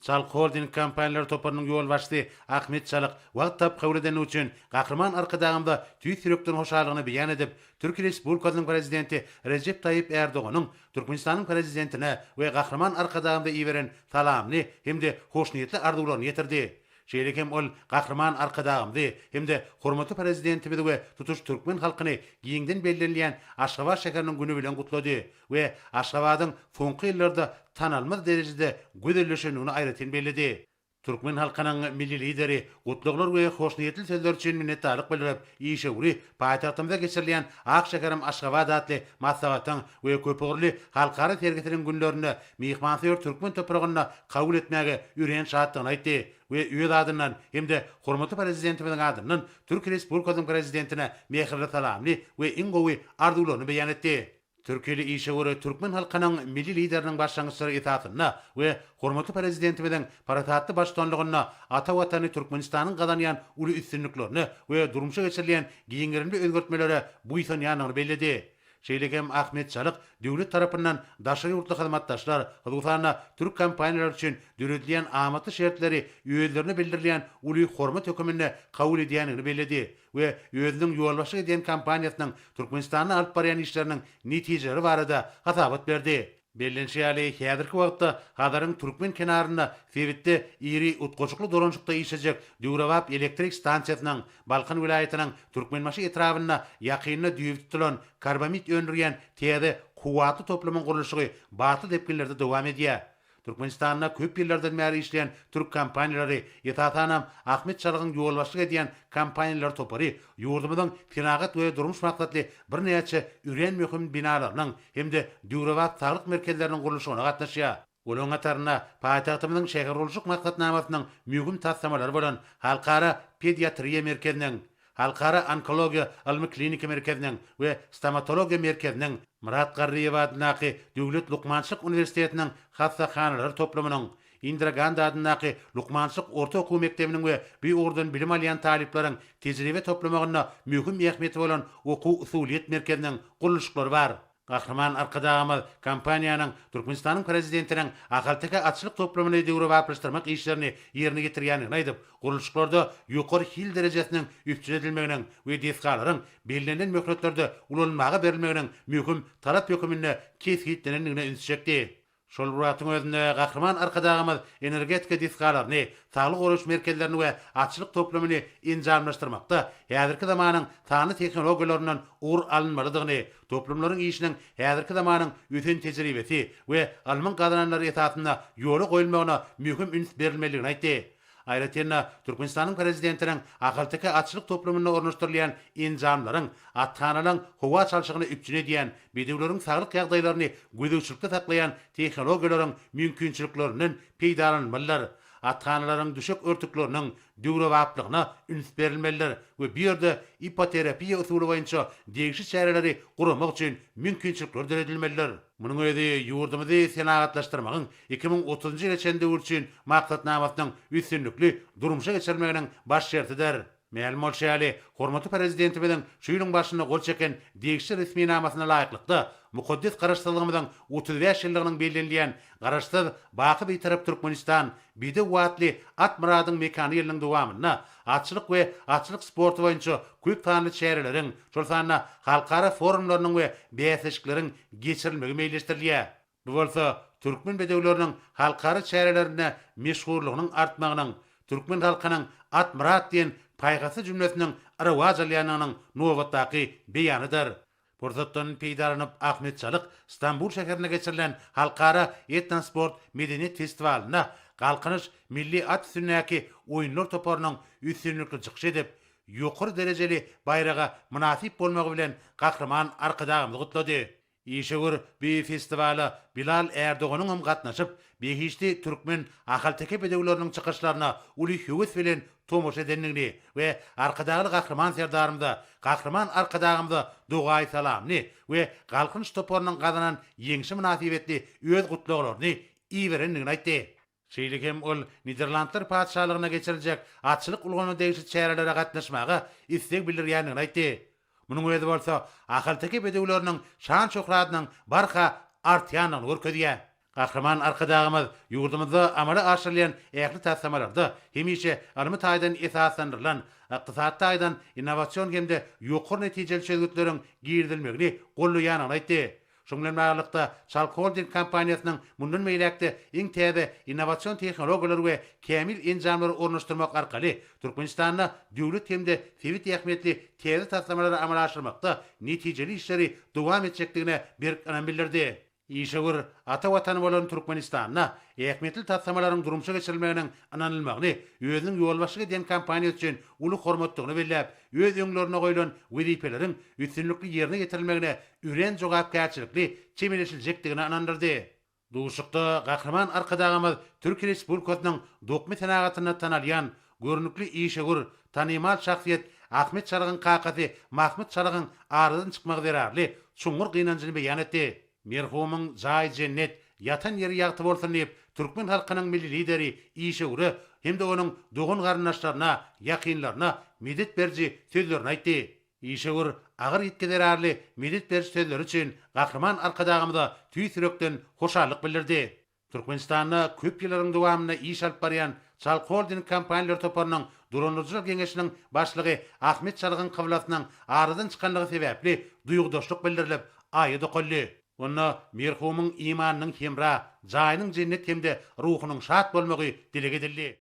Çalk Holding kompaniýalary toparynyň ýolbaşçysy Ahmet Çalyk wagt tapyp kabul edendigi üçin Gahryman Arkadagymyza tüýs ýürekden hoşallygyny beýan edip, Türkiýe Respublikasynyň Prezidenti Rejep Taýýip Ärdoganyň Türkmenistanyň Prezidentine we Gahryman Arkadagymyza iberen salamyny hem-de hoşniýetli arzuwlaryny ýetirdi. Şeýle hem ol Gahryman Arkadagymyzy hem-de hormatly Prezidentimizi we tutuş türkmen halkyny giňden bellenilýän Aşgabat şäheriniň güni bilen gutlady we Aşgabadyň soňky ýyllarda tanalmaz derejede gözelleşendigini aýratyn belledi. Türkmen halkynyň Milli Lideri gutlaglar we hoşniýetli sözler üçin minnetdarlyk bildirip, işewüri paýtagtymyza geçirilýän Ak şäherim Aşgabat atly maslahatyň we köpugurly halkara sergisiniň günlerinde myhmansöýer türkmen topragynda kabul etmäge örän şatdygyny aýtdy we öz adyndan hem-de hormatly Prezidentimiziň adyndan Türkiýe Respublikasynyň Prezidentine mähirli salamyny we iň gowy arzuwlaryny beýan etdi. Türkiýeli işewür türkmen halkynyň Milli Lideriniň başlangyçlary esasynda we hormatly Prezidentimiziň parasatly baştutanlygynda ata Watany Türkmenistanyň gazanýan uly üstünliklerine we durmuşa geçirilýän giň gerimli özgertmelere buýsanýandygyny belledi. Şeýle hem Ahmet Çalyk döwlet tarapyndan daşary ýurtly hyzmatdaşlar, hususan-da, türk kompaniýalary üçin döredilýän amatly şertleri özlerine bildirilýän uly hormat höküminde kabul edýändigini belledi we özüniň ýolbaşçylyk edýän kompaniýasynyň Türkmenistanda alyp barýan işleriniň netijeleri barada hasabat berdi. Bellenişi ýaly, häzirki wagtda Hazaryň türkmen kenarynda sebitde iri utgaşykly dolanşykda işlejek döwrebap elektrik stansiýasynyň, Balkan welaýatynyň Türkmenbaşy etrabynda ýakynda düýbi tutulan karbamid öndürýän täze kuwwatly toplumyň gurluşygy batly depginlerde dowam edýär. Türkmenistanda köp ýyllardan bäri işleýän türk kompaniýalary, esasanam, Ahmet Çalygyň ýolbaşçylyk edýän kompaniýalar topary ýurdumyzyň senagat we durmuş maksatly birnäçe örän möhüm binalarynyň hem-de döwrebap saglyk merkezleriniň gurluşygyna gatnaşýar. Olaryň hatarynda paýtagtymyzyň şähergurluşyk maksatnamasynyň möhüm taslamalary bolan Halkara pediatriýa merkeziniň, Halkara onkologiýa ylmy-kliniki merkeziniň we Stomatologiýa merkeziniň, Myrat Garryýew adyndaky Döwlet lukmançylyk uniwersitetiniň hassahanalary toplumynyň, Indira Gandi adyndaky lukmançylyk orta okuw mekdebiniň we bu ugurdan bilim alýan talyplaryň tejribe toplamagynda möhüm ähmiýeti bolan Okuw-usulyýet merkeziniň gurluşyklary bar. Gahryman Arkadagymyz kompaniýanyň Türkmenistanyň Prezidentiniň ahalteke atçylyk toplumyny döwrebaplaşdyrmak işlerini ýerine ýetirýändigini aýdyp, gurluşyklarda ýokary hil derejesiniň üpjün edilmeginiň we desgalaryň bellenilen möhletlerde ulanylmaga berilmeginiň möhüm talap höküminde kesgitlenendigine üns çekdi. Şol bir wagtyň özünde Gahryman Arkadagymyz energetika desgalaryny, saglygy goraýyş merkezlerini we atçylyk toplumyny enjamlaşdyrmakda häzirki zamanyň sanly tehnologiýalaryndan ugur alynmalydygyny, toplumlaryň işiniň häzirki zamanyň ösen tejribesi we ylmyň gazananlary esasynda ýola goýulmagyna möhüm üns berilmelidigini aýtdy. Aýratyn-da, Türkmenistanyň Prezidentiniň Ahalteke atçylyk toplumynda ornaşdyrylýan enjamlaryň, athanalaryň howa çalşygyny üpjün edýän, bedewleriň saglyk ýagdaýlaryny gözegçilikde saklaýan tehnologiýalaryň mümkinçiliklerinden peýdalanylmalydyr, athanalaryň düşek örtükleriniň döwrebaplygyna üns berilmelidir we bu ýerde ipoterapiýa usuly boýunça degişli çäreleri guramak üçin mümkinçilikler döredilmelidir. Munuň özi ýurdumyzy senagatlaşdyrmagyň iki müň otuzynjy ýyla çenli döwür üçin maksatnamasynyň üstünlikli durmuşa geçirilmeginiň baş şertidir. Mälim bolşy ýaly, hormatly Prezidentimiziň şu ýylyň başynda gol çeken degişli resminamasyna laýyklykda, mukaddes Garaşsyzlygymyzyň otuz bäş ýyllygynyň bellenilýän Garaşsyz, baky Bitarap Türkmenistan, bidew atly Atmyradyň mekany ýylynyň dowamynda atçylyk we atçylyk sporty boýunça köp sanly çäreleriň, şol sanda halkara forumlarynyň we bäsleşikleriň geçirilmegi meýilleşdirilýär. Bu bolsa türkmen bedewleriniň halkara çärelerinde meşhurlygynyň artmagynyň, türkmen halkynyň At Myrat diýen paýhasly jümlesiniň rowaç alýandygynyň nobatdaky beýanydyr. Pursatdan peýdalanyp Ahmet Çalyk Stambul şäherinde geçirilen Halkara etnosport medeniýet festiwalynda Galkynyş milli at üstündäki oýunlar toparynyň üstünlikli çykyş edip, ýokary derejeli baýraga mynasyp bolmagy bilen Gahryman Arkadagymyzy gutlady. Işewür bu festiwala Bilal Ärdoganyň hem gatnaşyp, behişdi türkmen ahalteke bedewleriniň çykyşlaryna uly höwes bilen tomaşa edendigini we Arkadagly Gahryman Serdarymyza, Gahryman Arkadagymyza dogaýy-salamyny we Galkynyş toparynyň gazanan ýeňşi mynasybetli öz gutlaglaryny iberendigini aýtdy. Şeýle hem ol Niderlandlar Patyşalygyna geçiriljek atçylyk ulgamyna degişli çärelere gatnaşmaga isleg bildirýändigini aýtdy. Munuň özi bolsa ahalteke bedewleriniň şan-şöhratynyň barha artýandygyny görkezýär. Gahryman Arkadagymyz ýurdumyzda amala aşyrylýan ähli taslamalarda hemişe ylmy taýdan esaslandyrylan, ykdysady taýdan innowasion hem-de ýokary netijeli çözgütleriň girizilmegini gollaýandygyny aýtdy. Şunuň bilen baglylykda, Çalk Holding kompaniýasynyň mundan beýläk-de iň täze innowasion tehnologiýalary we kämil enjamlary ornaşdyrmak arkaly Türkmenistanda döwlet hem-de sebit ähmiýetli täze taslamalary amala aşyrmakda netijeli işleri dowam etjekdigine berk ynam bildirdi. Işewür ata Watany bolan Türkmenistanda ähmiýetli taslamalaryň durmuşa geçirilmeginiň ynanylmagyny özüniň ýolbaşçylyk edýän kompaniýasy üçin uly hormatdygyny belläp, öz öňlerine goýlan wezipeleriň üstünlikli ýerine ýetirilmegine örän jogapkärçilikli çemeleşiljekdigine ynandyrdy. Duşuşykda Gahryman Arkadagymyz Türkiýe Respublikasynyň dokma senagatynda tanalýan görnükli işewür, tanymal şahsyýet Ahmet Çalygyň kakasy Mahmyt Çalygyň aradan çykmagy zerarly çuňňur gynanjyny beýan etdi. Merhumyň jaýy jennet, ýatan ýeri ýagty bolsun diýip, türkmen halkynyň Milli Lideri, işewüre hem-de onuň dogan-garyndaşlaryna, ýakynlaryna medet beriji sözlerini aýtdy. Işewür agyr ýitgi zerarly medet beriş sözleri üçin Gahryman Arkadagymyza tüýs ýürekden hoşallyk bildirdi. Türkmenistanda köp ýyllaryň dowamynda iş alyp barýan Çalk Holding kompaniýalar toparynyň Dolandyryjylar geňeşiniň başlygy Ahmet Çalygyň kyblasynyň aradan çykanlygy sebäpli duýgudaşlyk bildirilip, aýa dokaldy. Onda merhumyň imanynyň hemra, jaýynyň jennet hem-de ruhunyň şat bolmagy dileg edildi.